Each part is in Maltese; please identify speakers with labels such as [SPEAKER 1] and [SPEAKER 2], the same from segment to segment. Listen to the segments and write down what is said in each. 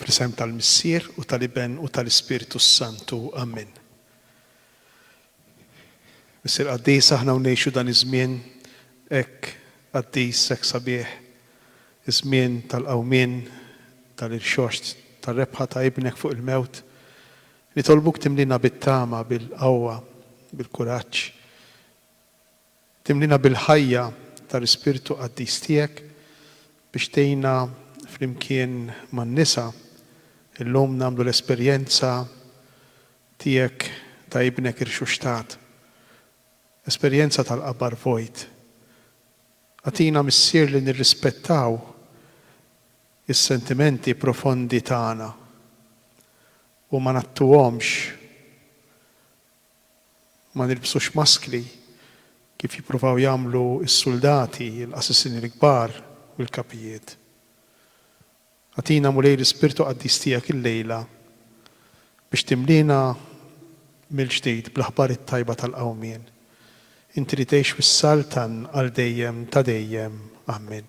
[SPEAKER 1] Fl-isem tal-Missier u tal-Iben u tal-Ispirtu s-Santu. Ammen. Missier Qaddis, aħna u ngħixu dan iż-żmien hekk qaddis, hekk sabiħ, iż-żmien tal-qawmien, tal-irxoxt, tar-rebħa ta' Ibnek fuq il-mewt. Nitolbuk timlina bit-tama, bil-qawwa, bil-kuraġġ. Timlina bil-ħajja tal-Ispirtu Qaddis Tiegħek biex tgħinna flimkien man-nisa illum nagħmlu l-esperjenza Tiegħek ta' Ibnek irxuxtat, esperjenza tal-qabar vojt. Agħtina, Missier, li nirrispettaw is-sentimenti profondi tagħna u ma ngħattuhomx. Ma nilbsux maskli, kif jippruvaw jagħmlu s-suldati, il-qassisin il-kbar u l-kapijiet. Agħtina, Mulej, l-Ispirtu Qaddis tiegħek illejla biex timliena mill-ġdid bl-aħbar it-tajba tal-qawmien, inti li tgħix u ssaltan għal dejjem ta' dejjem. Ammen.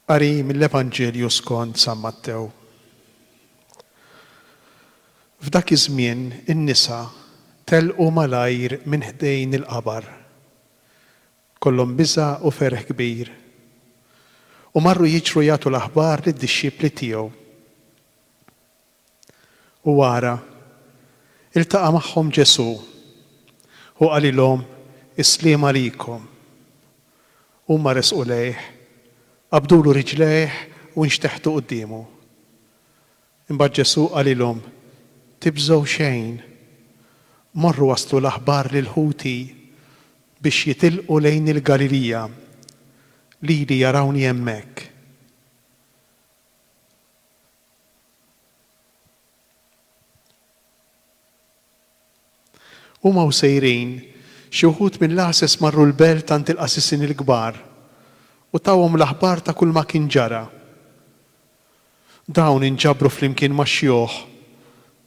[SPEAKER 1] Qari mill-Evanġelju skont San Mattew. F'dak iż-żmien in-nisa telqu malajr minn ħdejn il-qabar. Kollhom biża' u ferħ kbir. U marru jiġru jagħtu l-aħbar lid-dixxipli tiegħu. u wara, iltaqa' magħhom Ġesù u qalilhom, Is-sliem għalikom. Huma resqu lejh, qabdulu riġlejh u nxteħtu quddiemu. Imbagħad Ġesù qalilhom, Tibżgħu xejn. Morru wasslu l-aħbar lil ħuti biex jitilqu lejn il-Galilija. Lili jarawni hemmhekk. Huma u sejrin, xi wħud mill-għases marru l-belt għand il-qasisin il-kbar u tawhom l-aħbar ta' kulma kien ġara. Dawn inġabru flimkien max-xjuħ,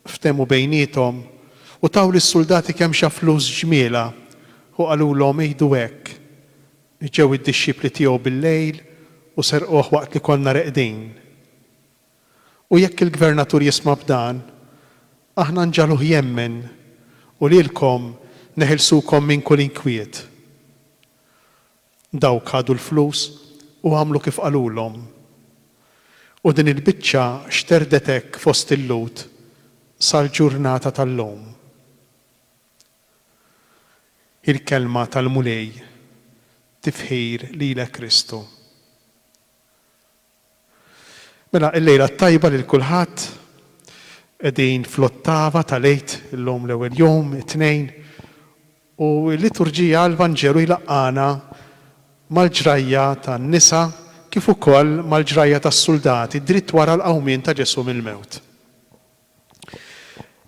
[SPEAKER 1] ftehmu bejniethom u taw lis-suldati kemxa flus ġmiela u qalulhom ighdu hekk, Ġew id-dixxipli tiegħu bil-lejl u serquh waqt li konna reqdin. U jekk il-gvernatur jisma' b'dan, aħna nġagħluh jemmen, u lilkom neħilsukom minn kull inkwiet. Dawk ħadu l-flus u għamlu kif qalulhom. U din il-biċċa xterdet hekk fost il-Lhud sal-ġurnata tal-lum. Il-Kelma tal-Mulej tifħir lilek Kristu. Mela il-lejla t-tajba lil kulħadd. Qegħdin fl-ottava tal-Għid illum l-ewwel jum, it-Tnejn, u l-liturġija l-Vanġelu jlaqqagħna mal-ġrajja tan-nisa kif ukoll mal-ġrajja tas-suldati dritt wara l-qawmien ta' Ġesù mill-mewt.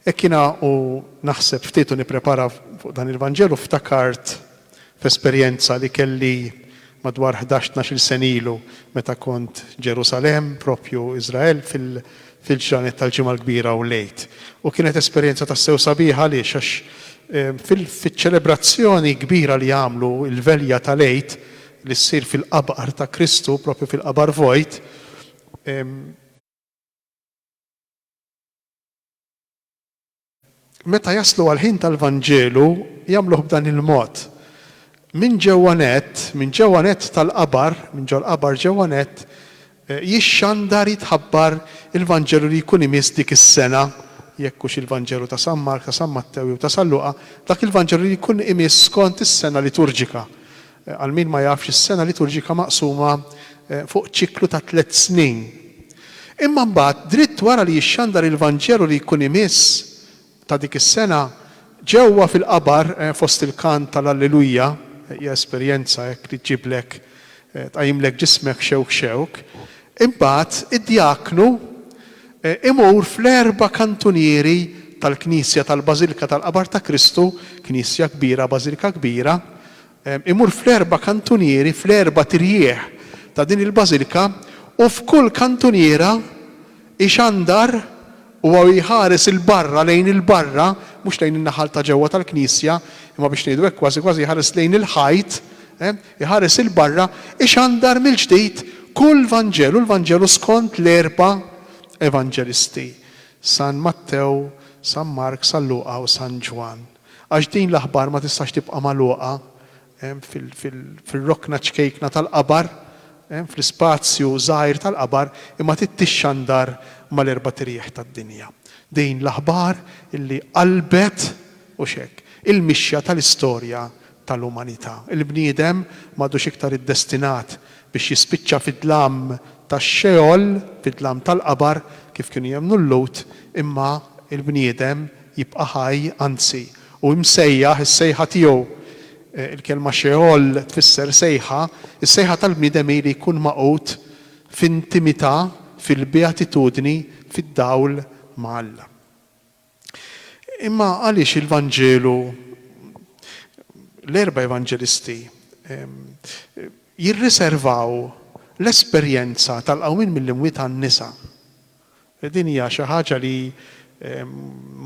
[SPEAKER 1] Hekk jiena u naħseb ftit u nipprepara fuq dan il-Vanġelu ftakart f'esperjenza li kelli madwar ħdax tnax-il sena ilu meta kont Ġerusalemm, proprju Iżrael, fil-ġranet tal-Ġimgħa l-Kbira u l-Għid. U kienet esperjenza tassew sabiħa għaliex għax fiċ-ċelebrazzjoni kbira li għamlu, il-velja tal-Għid li ssir fil-qabqar ta' Kristu, proprju fil-qabar vojt, Meta jaslu għall-ħin tal-Vanġelu, jagħmluh b'dan il-mod. Minn ġewwa nett, minn ġewwa nett tal-qabar, minn ġol-qabar ġewwa nett, jixxandar, jitħabbar il-Vanġelu li jkun imiss dik is-sena, jekk hux il-Vanġelu ta' San Mark, ta' San Mattew jew ta' San Luqa, dak il-Vanġelu li jkun imiss skont is-sena liturġika. Għal min ma jafx, is-sena liturġika maqsuma fuq ċiklu ta' tliet snin. Imma mbagħad, dritt wara li jixxandar il-Vanġelu li jkun imiss ta' dik is-sena, ġewwa fil-qabar fost il-kant tal-Alleluja, hija esperjenza hekk li ġġiblek, tqajjimlek ġismek xewk xewk, imbagħad id-djaknu imur fl-erba' kantunieri tal-knisja tal-Bażilka tal-Qabar ta' Kristu, knisja kbira, bażilka kbira, Imur fl-erba' kantunieri, fl-erba' trjieħ ta' din il-bażilka, u f'kull kantuniera ixandar, huwa u jħares 'il barra, lejn il-barra, mhux lejn in-naħal ta' ġewwa tal-knisja, imma biex ngħidu hekk kważi kważi jħares lejn il-ħajt, iħares 'il barra, ixandar mill-ġdid kull vanġelu, l-vanġelu skont l-erba' evanġelisti, San Mattew, San Mark, San Luqa u San Ġwann. Għax din l-aħbar ma tistax tibqa' magħluqa fir-rokna ċkejkna tal-qabar, fl-ispazju żgħir tal-qabar, imma trid tixxandar mal-erbat irjieħ tad-dinja. Din l-aħbar illi qalbet, hux hekk, il-mixja tal-istorja tal-umanità. Il-bniedem m'għadux iktar iddestinat biex jispiċċa fid-dlam tax-Xeol, fid-dlam tal-qabar, kif kienu jemmnu l-Lhud, imma l-bniedem jibqa' ħaj, anzi, hu msejjaħ is-sejħa tiegħu. Il-kelma Xeol tfisser sejħa. Is-sejħa tal-bniedem hi li jkun magħqud f'intimità, fil-beatitudni, fid-dawl ma' Alla. Imma għaliex il-Vanġelu, l-erba' Evanġelisti, jirriservaw l-esperjenza tal-qawmien mill-imwiet għan-nisa? Din hija xi ħaġa li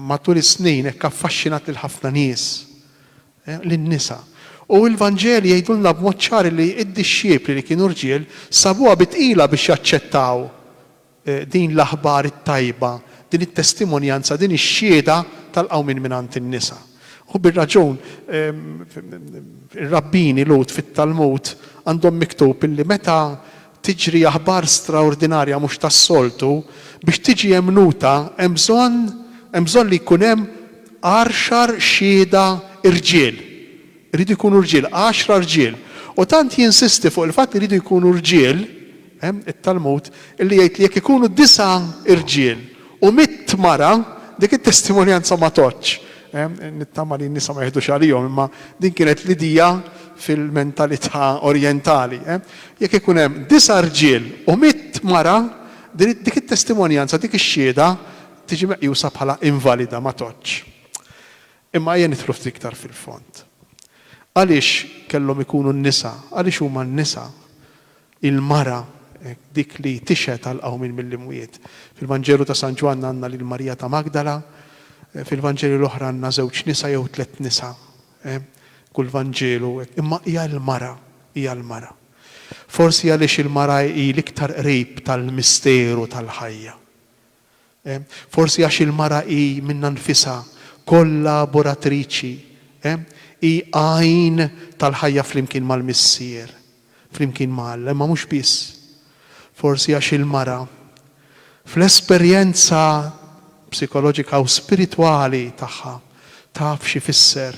[SPEAKER 1] matul is-snin hekk affaxxinat lil ħafna nies, lin-nisa. U l-Vanġeli jgħidulna b'mod ċar li d-dixxipli li kienu rġiel sabuha bi tqila biex jaċċettaw din l-aħbar it-tajba, din it-testimonjanza, din ix-xhieda tal-qawmien mingħand in-nisa. U bir-raġun, ir-rabbini Lhud fit-Talmud għandhom miktub illi meta tiġri aħbar straordinarja mhux tas-soltu, biex tiġi emmnuta hemm bżonn hemm bżonn li jkun hemm għarxar xhieda rġiel. Iridu jkunu rġiel, għaxra rġiel. U tant jinsisti fuq il-fatt li jridu jkunu rġiel, hemm it-Talmud, illi jgħid li jekk ikunu disa' irġiel u mitt mara, dik it-testimonjanza ma tgħoddx. Nittama li n-nisa ma jeħdux għalihom, imma din kienet l-idea fil-mentalità orjentali. Jekk ikun hemm disa' rġiel u mitt mara, dik it-testimonjanza, dik ix-xhieda tiġi meqjusa bħala invalida, ma tgħoddx. Imma ejja nidħlu ftit iktar fil-fond. Għaliex kellhom ikunu n-nisa, għaliex huma n-nisa, il-mara, dik li tixhed għall-qawmien mill-imwiet? Fil-Vanġelu ta' San Ġwann għandna lil Marija ta' Magdala, fil-Vanġeli l-oħra għandna żewġ nisa jew tliet nisa, kull Vanġelu, imma hija l-mara, hija l-mara. Forsi għaliex il-mara hi l-iktar qrib tal-misteru tal-ħajja. Forsi għax il-mara hi minnha nfisha kollaboratriċi, hi għajn tal-ħajja flimkien mal-Missier, flimkien ma' Alla, imma mhux biss. Forsi għax il-mara, fl-esperjenza psikoloġika u spiritwali tagħha, taf x'ifisser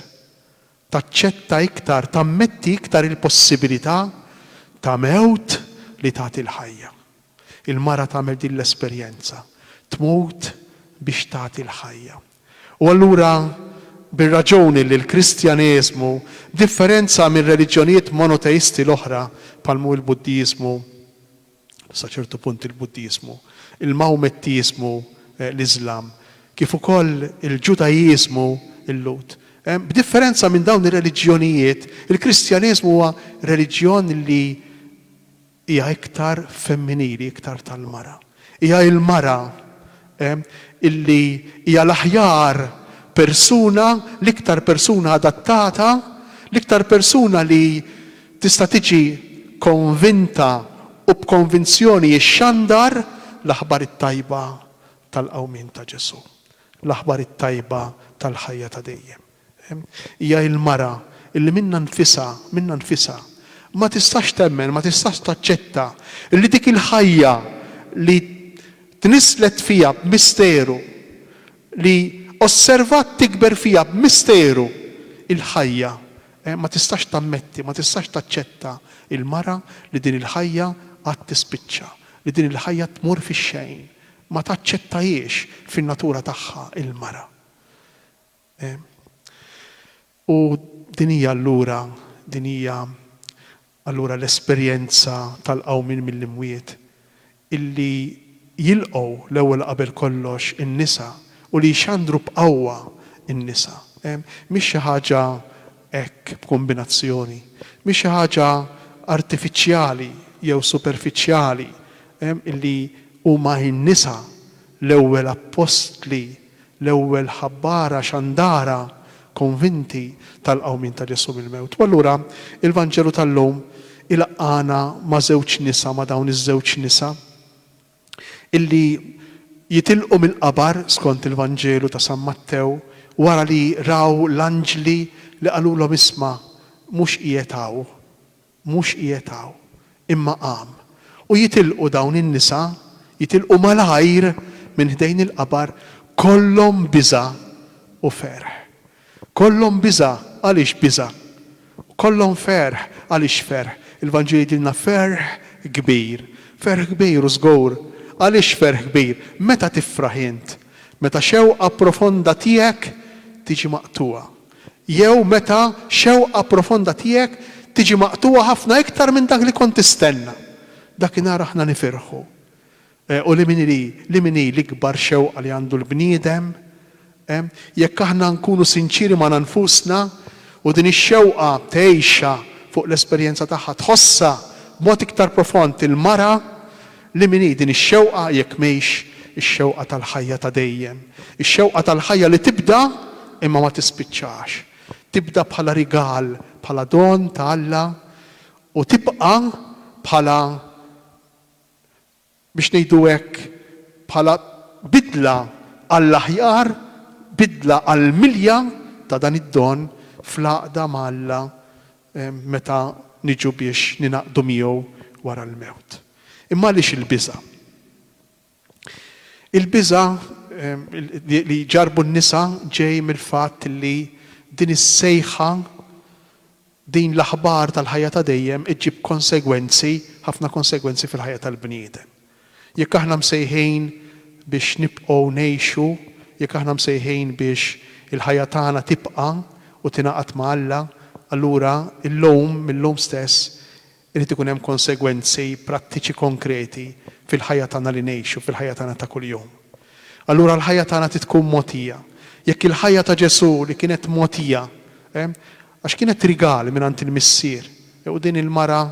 [SPEAKER 1] Taċċetta iktar, tammetti iktar il-possibilità ta' mewt li tagħti l-ħajja. Il-mara tagħmel din l-esperjenza, tmut biex tagħti l-ħajja. U allura bir-raġuni li l-Kristjaneżmu, b'differenza mir-reliġjonijiet monoteisti l-oħra bħal mhu l-Buddiżmu, sa ċertu punt il-Buddiżmu, il-Mawmettiżmu, l-Iżlam, kif ukoll il-Ġudaiżmu, il-Lhud. B'differenza minn dawn ir-reliġjonijiet, il-Kristjaneżmu huwa reliġjon li hija iktar femminili, iktar tal-mara. Hija l-mara illi hija l-aħjar persuna, l-iktar persuna adattata, l-iktar persuna li tista' tiġi konvinta u b'konvinzjoni xxandar l-aħbar it-tajba tal-qawmien ta' Ġesù, l-aħbar it-tajba tal-ħajja ta' dejjem. Hija l-mara li minnha nfisha, minnha nfisha, ma tistax temmen, ma tistax taċċetta li dik il-ħajja li tnisslet fiha b'misteru, li osservat tikber fiha b'misteru il-ħajja, ma tistax tammetti, ma tistax taċċetta l-mara li din il-ħajja għad tispiċċa, li din il-ħajja tmur fix-xejn. Ma taċċettahiex fin-natura tagħha l-mara. U din hija allura, din hija allura l-esperjenza tal-qawmien mill-imwiet, illi jilqgħu l-ewwel qabel kollox in-nisa u li jxandru b'qawwa n-nisa. Mhix xi ħaġa hekk b'kombinazzjoni, mhix xi ħaġa artifiċjali jew superfiċjali, illi huma n-nisa L-ewwel appostli, l-ewwel ħabbara xandara konvinti tal-qawmien ta' Ġesù mill-mewt. U allura il-Vanġelu tal-lum ilaqqagħna ma' żewġ nisa, ma' dawn iż-żewġ nisa illi jitilqu mill-qabar skont il-Vanġelu ta' San Mattew wara li raw l-anġli li qalulhom isma' mhux qiegħed hawn. Mhux qiegħed hawn, imma qam. U jitilqu dawn in-nisa, jitilqu malajr minn ħdejn il-qabar, kollhom biża' u ferħ. Kollhom biża' għaliex biża', u kollhom ferħ għaliex ferħ. Il-Vanġelu jgħidilna ferħ kbir. Ferħ kbir, u żgur. Għaliex ferħ kbir? Meta tifraħ int? Meta xewqa profonda tiegħek tiġi maqtugħa. jew meta xewqa profonda tiegħek tiġi maqtugħa ħafna iktar minn dak li kont tistenna, dakinhar aħna nifirħu. U li min hi, li min hi l-ikbar xewqa li għandu l-bniedem? Jekk aħna nkunu sinċieri magħna nfusna, u din ix-xewqa tgħixha fuq l-esperjenza tagħha, tħossha b'mod iktar profond il-mara Li min hi din ix-xewqa jekk mhix ix-xewqa tal-ħajja ta' dejjem, ix-xewqa tal-ħajja li tibda imma ma tispiċċax, tibda bħala rigal, bħala don ta' Alla u tibqa' bħala, biex ngħidu hekk, bħala bidla għall-aħjar, bidla għall-milja ta' dan id-don fl-għaqda ma' Alla meta niġu biex ningħaqdu miegħu wara l-mewt. Imma għaliex il-biża'? Il-biża' li jġarrbu n-nisa ġej mill-fatt li din is-sejħa, din l-aħbar tal-ħajja ta' dejjem iġġib konsegwenzi, ħafna konsegwenzi fil-ħajja tal-bniedem. Jekk aħna msejħin biex nibqgħu ngħixu, jekk aħna msejħin biex il-ħajja tagħna tibqa' u tingħaqad ma' Alla, allura illum, mil-lum stess, irid ikun hemm konsegwenzi prattiċi konkreti fil-ħajja tagħna li ngħixu, fil-ħajja tagħna ta' kuljum. Allura l-ħajja tagħna trid tkun mogħtija. Jekk il-ħajja ta' Ġesù li kienet mogħtija, Għax kienet rigal mingħand il-missier. U din il-mara,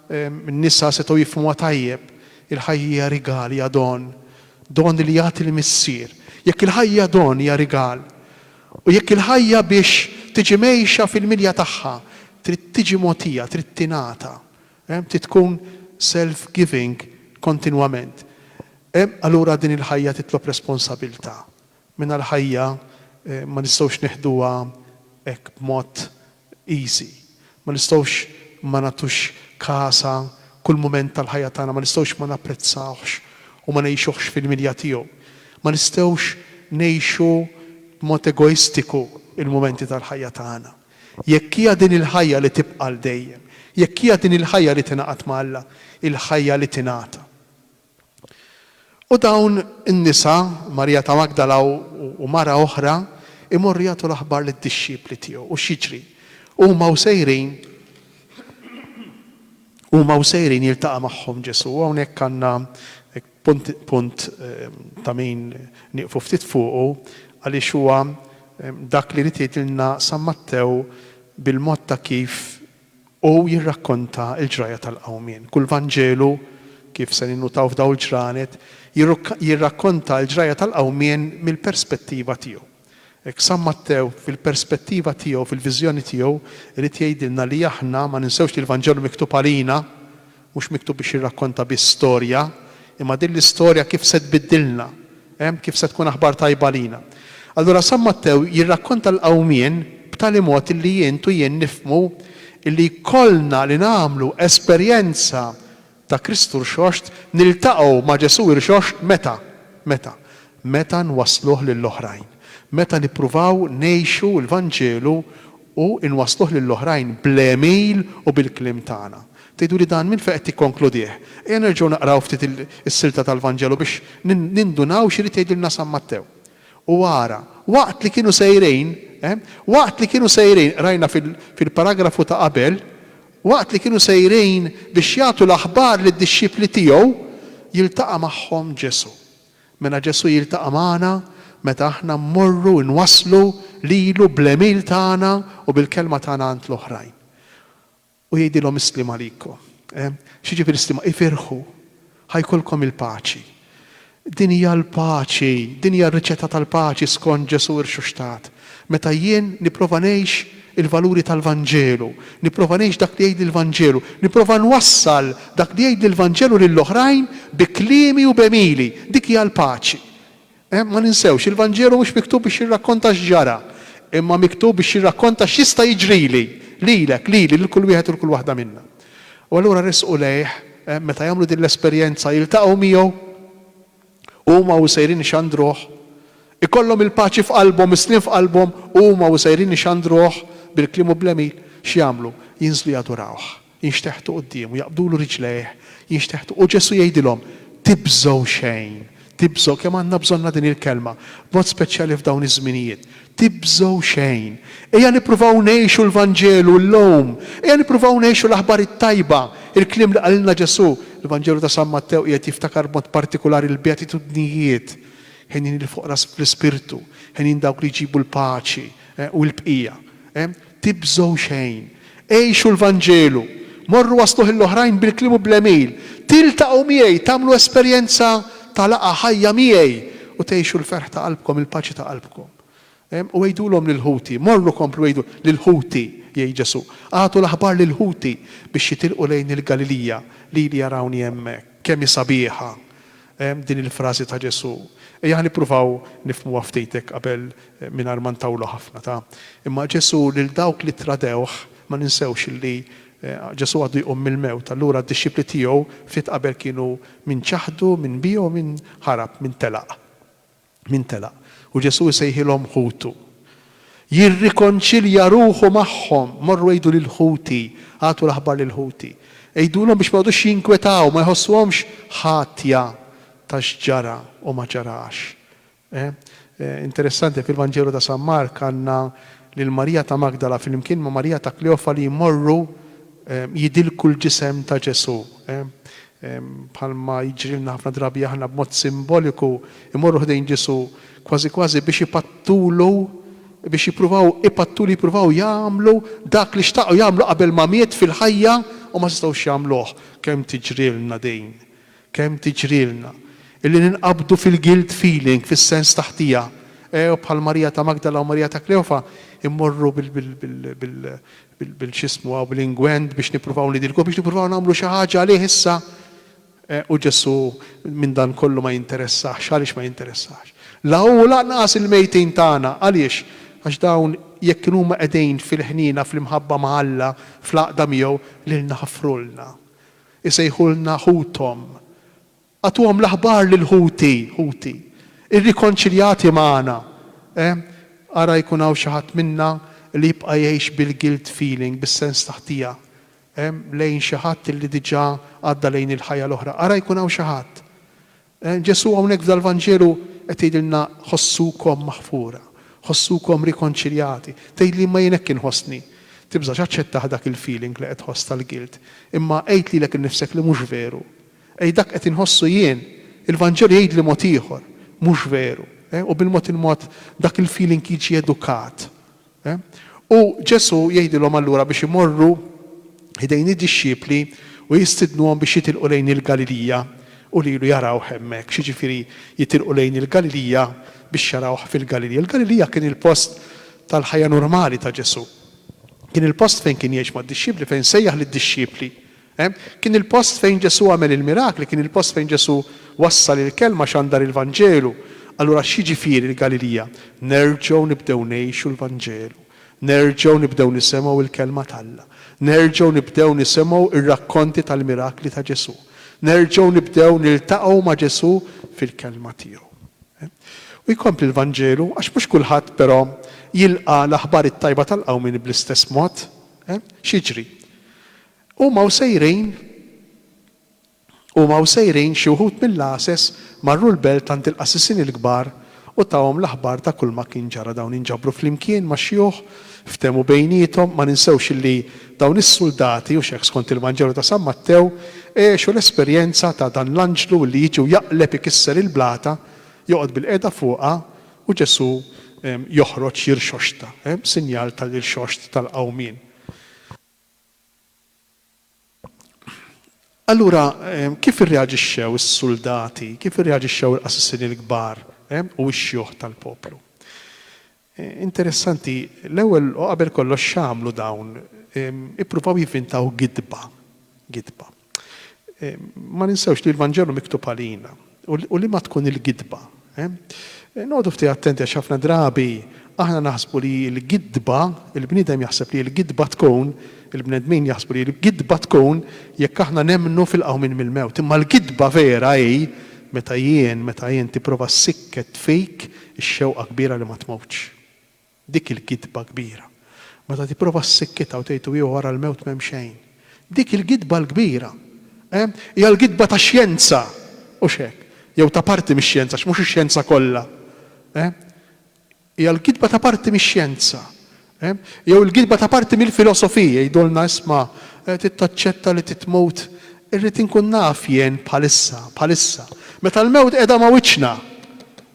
[SPEAKER 1] n-nisa setgħu jifhmuha tajjeb, il-ħajja hija rigal, hija don. Don li jagħti l-Missier. Jekk il-ħajja don hija rigal. U jekk il-ħajja biex tiġi mgħejxa fil-milja tagħha trid tiġi mogħtija, trid tingħata, trid tkun self-giving kontinwament, allura din il-ħajja titlob responsabilità. Mingħajr ħajja ma nistgħux nieħduha hekk b'mod easy. Ma nistgħux ma nagħtux kasha kull mument tal-ħajja tagħna, ma nistgħux ma napprezzawhx u ma ngħixuhx fil-milja tiegħu. Ma nistgħux ngħixu b'mod egoistiku l-mumenti tal-ħajja tagħna. Jekk hija din il-ħajja li tibqa' għal dejjem, jekk hija din il-ħajja li tingħaqad ma' Alla, il-ħajja li tingħata. U dawn in-nisa, Marija ta' Magdala u mara oħra, imorru jagħtu l-aħbar lid-dixxipli tiegħu. U x'jiġri? Huma u sejrin, huma u sejrin jiltaqa' magħhom Ġesù. U hawnhekk għandna punt, punt ta' min nieqfu ftit fuqu għaliex huwa dak li jrid jgħidilna San Mattew bil-mod ta' kif u jirrakkonta l-ġrajja tal-Qawmien. Kull Vanġelu, kif se ninnutaw f'dawn il-ġranet, jirrakkonta l-ġrajja tal-Qawmien mill-perspettiva tiegħu. Hekk San Mattew, fil-perspettiva tiegħu, fil-viżjoni tiegħu, irid jgħidilna li aħna ma ninsewx li l-Vanġelu miktub għalina, Mhux miktub biex jirrakkonta biss storja, imma din l-istorja kif se tbiddilna, ehm, kif se tkun aħbar tajba għalina. Allura San Mattew jirrakkonta l-qawmien b'tali mod illi int u jien nifhmu illi jkollna li nagħmlu esperjenza ta' Kristu Rxoxt, niltaqgħu ma' Ġesù Irxoxt meta? Meta? meta nwassluh lil oħrajn, meta nippruvaw ngħixu l-Vanġelu u nwassluh lil oħrajn bl-għemil u bil-kliem tagħna. Tgħidu li dan minn fejn qed tikkonkludih? Ejja nerġgħu naqraw ftit is-silta tal-Vanġelu biex nindunaw x'irid jgħidilna San Mattew. U ara, waqt li kienu sejrin, ehm, waqt li kienu sejrin, qrajna fil-paragrafu ta' qabel, waqt li kienu sejrin biex jagħtu l-aħbar lid-dixxipli tiegħu, jiltaqa' magħhom Ġesù. Mela Ġesù jiltaqa' magħna meta aħna mmorru nwasslu lilu bl-għemil tagħna u bil-kelma tagħna għand l-oħrajn. U jgħidilhom is-sliem għalikom. X'jiġifieri s-sliem? Ifirħu, ħa jkollkom il-paċi. Din hija l-paċi, din hija r-riċetta tal-paċi skont Ġesù rxuxtat. Meta jien nipprova ngħix il-valuri tal-Vanġelu, nipprova ngħix dak li jgħidli l-Vanġelu, nipprova nwassal dak li jgħidli l-Vanġelu lill-oħrajn bi kliemi u b'għemili, dik hija l-paċi. Ma ninsewx, il-Vanġelu mhux miktub biex jirrakkonta x'ġara, imma miktub biex jirrakkonta x'jista' jiġrili, lilek, lili, lil kull wieħed u lil kull waħda minna. U allura ressqu lejh, meta jagħmlu din l-esperjenza, jiltaqgħu miegħu. Huma u sejrin ixandruh. Ikollhom il-paċi f'qalbhom, is-sliem f'qalbhom, huma u sejrin ixandruh bil-kliem u bl-għemil. X'jagħmlu? Jinżlu jadurawh, jinxteħtu quddiemu, jaqbdulu riġlejh, jinxteħtu. U Ġesù jgħidilhom, Tibżgħu xejn, tibżgħu. Kemm għandna bżonnha din il-kelma, b'mod speċjali f'dawn iż-żminijiet. Tibżgħu xejn. Ejja nippruvaw ngħixu l-Vanġelu llum. Ejja nippruvaw ngħixu l-aħbar it-tajba, il-kliem li qalilna Ġesù. Il-Vanġelu ta' San Mattew qiegħed jiftakar b'mod partikulari l-beatitudnijiet, Henjin il-foqra fl-ispirtu, henjin dawk li jġibu l-paċi, u l-bqija. Tibżgħu xejn. Għixu l-Vanġelu. Morru wassluh lill-oħrajn bil-kliem u bl-għemil. Tiltaqgħu miegħi, tagħmlu esperjenza ta' laqgħa ħajja miegħi u tgħixu l-ferħ ta' qalbkom, il-paċi ta' qalbkom. U għidulhom lil ħuti, morru komplu għidu, lil ħuti, jgħid Ġesù, agħtu l-aħbar lil ħuti biex jitilqu lejn il-Galilija, lili jarawni hemmhekk. Kemm hi sabiħa! din il-frażi ta' Ġesù. Ejja ħa nippruvaw nifhmuha ftit hekk qabel mingħajr ma ntawlu ħafna, ta. Imma Ġesù lil dawk li ttradewh, ma ninsewx li Ġesù għadu jqum mill-mewt, allura d-dixxipli tiegħu ftit qabel kienu min ċaħdu, min biegħu, min ħarab, min telaq. Min telaq? U Ġesù jsejħilhom ħutu. Jirrikonċilja ruħu magħhom, Morru għidu lil ħuti, agħtu l-aħbar lil ħuti. Għidulhom biex ma jqogħdux jinkwetaw, ma jħossuhomx ħatja ta' x'ġara u ma ġarax. Interessanti, fil-Vanġelu ta' San Mark għandna lil Marija ta' Magdala flimkien ma' Marija ta' Kleofa li jmorru jidilku l-ġisem ta' Ġesù. bħalma jiġrilna ħafna drabi aħna b'mod simboliku, imorru ħdejn Ġesù kważi kważi biex ipattulu, biex jippruvaw ipattulu, jippruvaw jagħmlu dak li xtaqu jagħmlu qabel ma miet fil-ħajja u ma setgħux jagħmluh. Kemm tiġrilna din! Kemm tiġrilna! Illi ninqabdu fil-guilt feeling, fis-sens ta' ħtija. Ew, bħal Marija ta' Magdala u Marija ta' Kleofa, immorru bil-x'ismu hawn, bl-ingwent biex nippruvaw nidilku, biex nippruvaw nagħmlu xi ħaġa għalih issa. U Ġesù minn dan kollu ma jinteressahx. Għaliex ma jinteressahx? La hu u lanqas il-mejtin tagħna. Għaliex? Għax dawn jekk inhuma qegħdin fil-ħniena, fl-imħabba ma' Alla, fl-għaqda miegħu, lilna ħafrulna. Isejħulna ħuthom. Agħtuhom l-aħbar lil ħuti, ħuti, irrikonċiljati magħna. Ehm, ara jkun hawn xi ħadd minna li jibqa' jgħix bil-guilt feeling, bis-sens ta' ħtija, ehm, lejn xi ħadd li diġà għadda lejn il-ħajja l-oħra. Ara jkun hawn xi ħadd. Ehm, Ġesù hawnhekk f'dal-Vanġelu qed jgħidilna ħossukom maħfura, ħossukom rikonċiljati. Tgħid li imma jien hekk inħossni. Tibżax aċċettah dak il-feeling li qed tħoss tal-guilt, imma għid lilek innifsek li mhux veru. Ej dak qed inħossu jien, il-Vanġelu jgħidli mod ieħor, mhux veru. U bil-mod il-mod dak il-feeling jiġi edukat. U Ġesù jgħidilhom allura biex imorru ħdejn id-dixxipli u jistidnuhom biex jitilqu lejn il-Galilija u lilu jarawh hemmhekk. X'jiġifieri jitilqu lejn il-Galilija biex jarawh fil-Galilija? Il-Galilija kien il-post tal-ħajja normali ta' Ġesù. Kien il-post fejn kien jgħix mad-dixxipli, fejn sejjaħ lid-dixxipli Hemm kien il-post fejn Ġesù għamel il-mirakli, kien il-post fejn Ġesù wassal il-kelma, xandar il-Vanġelu. Allura x'jiġifieri l-Galilija? Nerġgħu nibdew ngħixu l-Vanġelu. Nerġgħu nibdew nisemgħu l-kelma t'Alla. Nerġgħu nibdew nisemgħu r-rakkonti tal-mirakli ta' Ġesù. Nerġgħu nibdew niltaqgħu ma' Ġesù fil-kelma tiegħu. U jkompli l-Vanġelu, għax mhux kulħadd però jilqa' l-aħbar it-tajba tal-qawmien bl-istess mod. X'jiġri? Huma u sejrin Huma u sejrin xi wħud mill-għases marru l-belt għand il-qassisin il-kbar u tahom l-aħbar ta' kulma kien ġara dawn inġabru flimkien max-xjuħ ftehmu bejniethom ma ninsewx illi dawn is-suldati u x'hekk skont il-Vanġelu ta' San Mattew għexu l-esperjenza ta' dan l-anġlu illi jiġi u jaqleb ikisser il-blata joqgħod bil-qiegħda fuqha u Ġesù joħroġ jirxoxta sinjal tal-irxoxt tal-qawmien. Allura, kif irreaġixxew is-suldati, kif irreaġixxew il-qassisin il-kbar u x-xjuħ tal-poplu? Interessanti, l-ewwel u qabel kollox x'għamlu dawn? Ippruvaw jivvintaw gidba, gidba. Ma ninsewx li l-Vanġelu miktub għalina u liema tkun il-gidba. Noqogħdu ftit attenti għax ħafna drabi aħna naħsbu li l-gidba, il-bniedem jaħseb li l-gidba tkun, il-bnedmin jaħsbu li l-gidba tkun jekk aħna nemmnu fil-qawmien mill-mewt. Imma l-gidba vera hi meta jien, meta int tipprova ssikket fik ix-xewqa kbira li ma tmutx. Dik il-gidba kbira. Meta tipprova ssekkitha u tgħid u wara l-mewt m'hemm xejn. Dik il-gidba l-kbira. Eh? Hija l-gidba tax-xjenza, hux hekk? Jew ta' parti mix-xjenza, għax mhux ix-xjenza kollha. Eh? Hija l-gidba ta' parti mix-xjenza. Eh? Jew il-gidba ta' parti mill-filosofija, jgħidulna isma' eh, trid taċċetta li titmut Irrid inkun naf jien bħalissa, bħalissa, meta l-mewt qiegħda ma' wiċċna,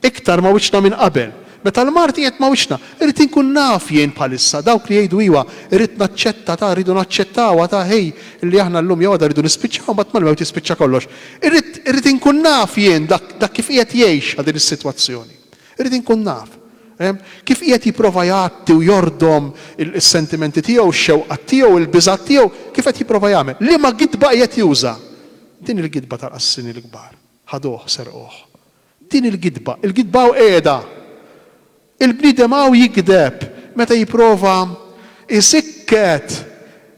[SPEAKER 1] iktar ma' wiċċna minn qabel, meta l-mard qiegħed ma' wiċċna, irrid inkun naf jien bħalissa, dawk li jgħidu iwa, irrid naċċetta ta', rridu naċċettawha ta' hi, li aħna llum jew għada rridu nispiċċaw imbagħad mal-mewt jispiċċa kollox. Irrid, irrid inkun naf jien dak, dak kif qiegħed jgħixha din is-sitwazzjoni. Irrid inkun naf. Kif qiegħed jipprova jgħatti u jordom is-sentimenti tiegħu, ix-xewqat tiegħu, il-biżgħat tiegħu, kif qed jipprova jagħmel? Liema gidba qiegħed juża? Din il-gidba tal-qassini l-kbar. Ħaduh, serquh. Din il-gidba. Il-gidba hawn qiegħda. Il-bniedem hawn jigdeb meta jipprova jsikket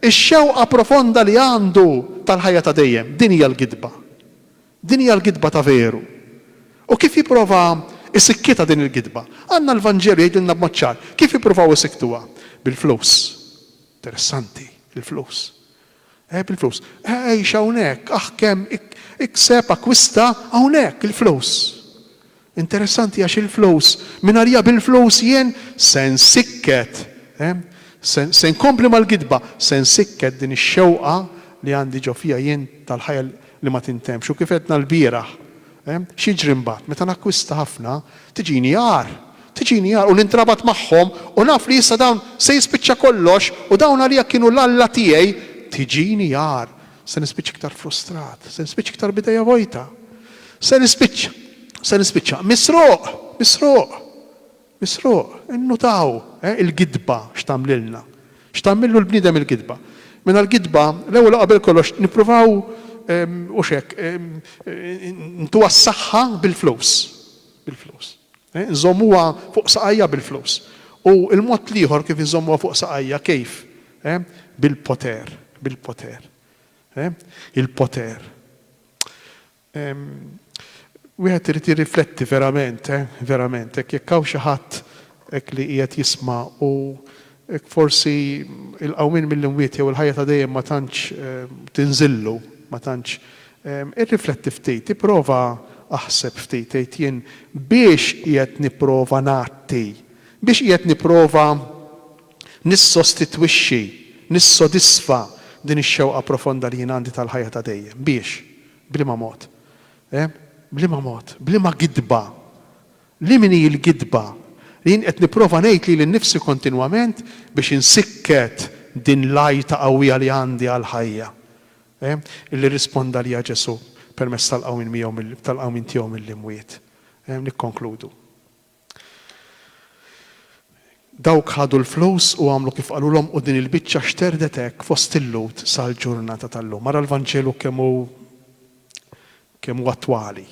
[SPEAKER 1] ix-xewqa profonda li għandu tal-ħajja ta' dejjem. Din hija l-gidba. Din hija l-gidba ta' veru. U kif jipprova jsikkitha din il-gidba? Għandna l-Vanġelu jgħidilna b'mod ċar kif jippruvaw isikktuha, bil-flus. Interessanti, il-flus. Eh, bil-flus. Eh, għix hawnhekk, aħkem, ikseb, akkwista, hawnhekk, il-flus. Interessanti għax il-flus, min arja bil-flus jien se nsikket, se nkompli mal-gidba, se nsikket din ix-xewqa li għandi ġo fija jien tal-ħajja li ma tintemmx u kif għedna lbieraħ, x'jiġri mbagħad? Meta nakkwista ħafna, tiġini għar, tiġini għar u nintrabat magħhom u naf li issa dawn se jispiċċa kollox u dawn għalija kienu l-Alla tiegħi, tiġini għar. Se nispiċċa iktar frustrat. Se nispiċċa iktar b'idejja vojta. Se nispiċċa. Se nispiċċa. Misruq! Misruq! Misruq! Innutaw, eh, il-gidba x'tagħmlilna. X'tagħmillu l-bniedem il-gidba. Mela l-gidba, l-ewwel u qabel kollox nippruvaw, ehm, hux hekk, ehm, ntuha s-saħħa bil-flus. Bil-flus. Eh, nżommuha fuq saqajja bil-flus. U l-mod l-ieħor kif inżommuha fuq saqajja, kif? Eh? Bil-poter, bil-poter. Eh? Il-poter. Ehm, wieħed irid jirrifletti verament, eh? verament, hekk jekk hawn xi ħadd hekk li qiegħed jisma' u hekk forsi il-qawmin mill-imwiet jew il-ħajja ta' dejjem ma tantx ehm, tinżillu, ma tantx ehm, irrifletti ftit, ipprova aħseb ftit tgħid jien biex qiegħed nipprova nagħti, biex qiegħed nipprova Nissostitwixxi, nissodisfa din ix-xewqa profonda li jien għandi tal-ħajja ta' dejjem. Biex? B'liema mod? Eh? B'liema mod? B'liema gidba? Li min hi l-gidba? Li jien qed nipprova ngħid lili nnifsi kontinwament biex insikket din l-għajta qawwija li għandi għall-ħajja. Eh? Li rrisponda għaliha Ġesù permezz tal-qawmien miegħu, tal-qawmien tiegħu mill-imwiet. Eh? Nikkonkludu. Dawk ħadu l-flus u għamlu kif qalulhom u din il-biċċa xterdet hekk fost il-Lhud sal-ġurnata tal-lum. Ara l-Vanġelu kemm hu kemm hu attwali,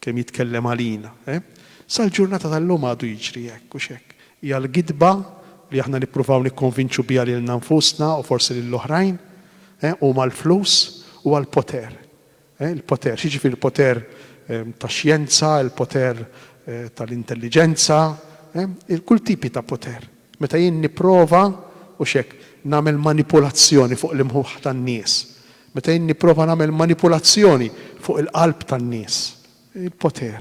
[SPEAKER 1] kemm jitkellem għalina, eh? Sal-ġurnata tal-lum għadu jiġri hekk, hux hekk? Hija l-gidba li aħna nippruvaw nikkonvinċu biha lilna nfusna u forsi lill-oħrajn, eh? Huma l-flus, huwa l-poter. Il-poter, xi jiġifieri l-poter tax-xjenza, il-poter tal-intelliġenza, kull tipi ta' poter. Meta jien nipprova, hux hekk, nagħmel manipulazzjoni fuq l-imħuħ tan-nies, meta jien nipprova nagħmel manipulazzjoni fuq il-qalb tan-nies, il-poter.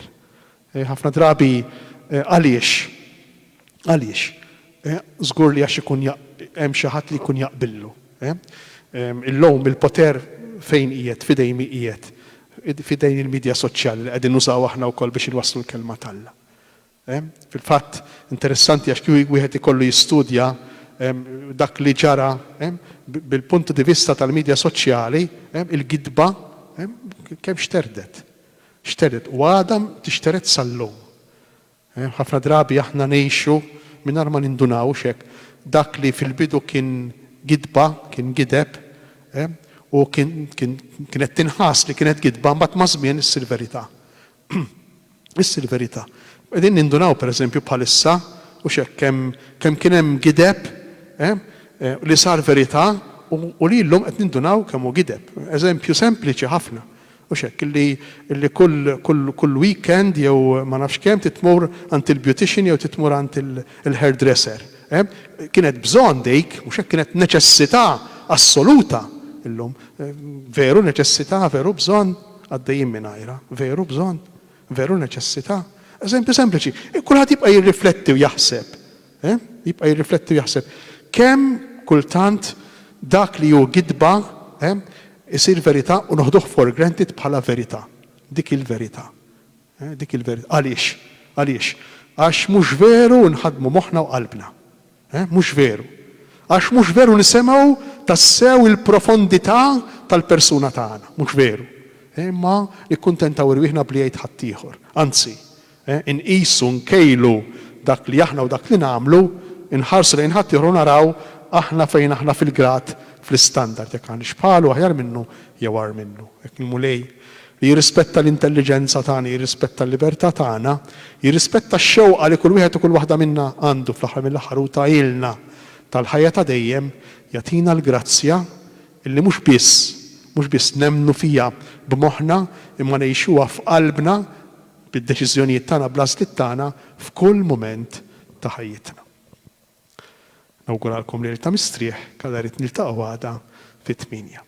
[SPEAKER 1] Eh, ħafna drabi eh, għaliex? Għaliex? Eh, żgur li għax ikun hemm xi ħadd li jkun jaqbillu. Eh? Ehm, illum il-poter fejn qiegħed, fidejn mi qiegħed, fidejn il-medja soċjali li qegħdin nużaw aħna wkoll biex inwasslu l-kelma talla. Ehm, fil-fatt interessanti għax kju wieħed ikollu jistudja ehm, dak li ġara bil-puntu di vista tal-medja soċjali, il-gidba kemm xterdet. Xteret u għadha tixtered sal-lum. Ħafna drabi aħna ngħixu mingħajr ma nindunawx hekk. Dak li fil-bidu kien gidba, kien gideb, u kien kienet tinħass li kienet gidba, mbagħad maż-żmien issir verità. Issir verità. Qegħdin nindunaw pereżempju bħalissa, hux hekk, kemm kemm kien hemm gideb li sar verità u li llum qed nindunaw kemm hu gideb. Eżempju sempliċi ħafna. Mhux hekk, illi, illi kull, kull, kull weekend jew ma nafx kemm trid tmur għand il-beautician jew trid tmur għand il, il-hairdresser. Eh? Kienet bżonn dik, mhux hekk, kienet neċessità assoluta. Illum, veru neċessità, veru bżonn, għaddejjin mingħajrha, veru bżonn, veru neċessità. Eżempju sempliċi, kulħadd jibqa' jirrifletti u jaħseb. Eh? Jibqa' jirrifletti u jaħseb. Kemm kultant dak li hu gidba, eh, isir verità u noħduh for granted bħala verità. Dik hi l-verità. Eh, dik hi l-verità. Għaliex? Għaliex? Għax mhux veru nħaddmu moħħna u qalbna. Eh, mhux veru. Għax mhux veru nisemgħu tassew il-profondità tal-persuna tagħna. Mhux veru. Eh, imma nikkuntentaw irwieħna b'li jgħid ħaddieħor. Anzi. Inqisu, nkejlu dak li aħna u dak li nagħmlu, inħarsu lejn ħaddieħor u naraw aħna fejn aħna fil-grad, fl-istandard, jekk aħniex bħalu, aħjar minnu jew agħar minnu. Hekk il-Mulej, li jirrispetta l-intelliġenza tagħna, jirrispetta l-libertà tagħna, jirrispetta x-xewqa li kull wieħed u kull waħda minna għandu fl-aħħar mill-aħħar hu tahielna tal-ħajja ta' dejjem, jagħtina l-grazzja illi mhux biss, mhux biss nemmnu fiha b'moħħna imma ngħixuha f'qalbna, bid-deċiżjonijiet tagħna bl-għażliet tagħna f'kull mument ta' ħajjitna. Nawguralkom lejl ta' mistrieħ, kalla rrid niltaqgħu għada fit-tmienja.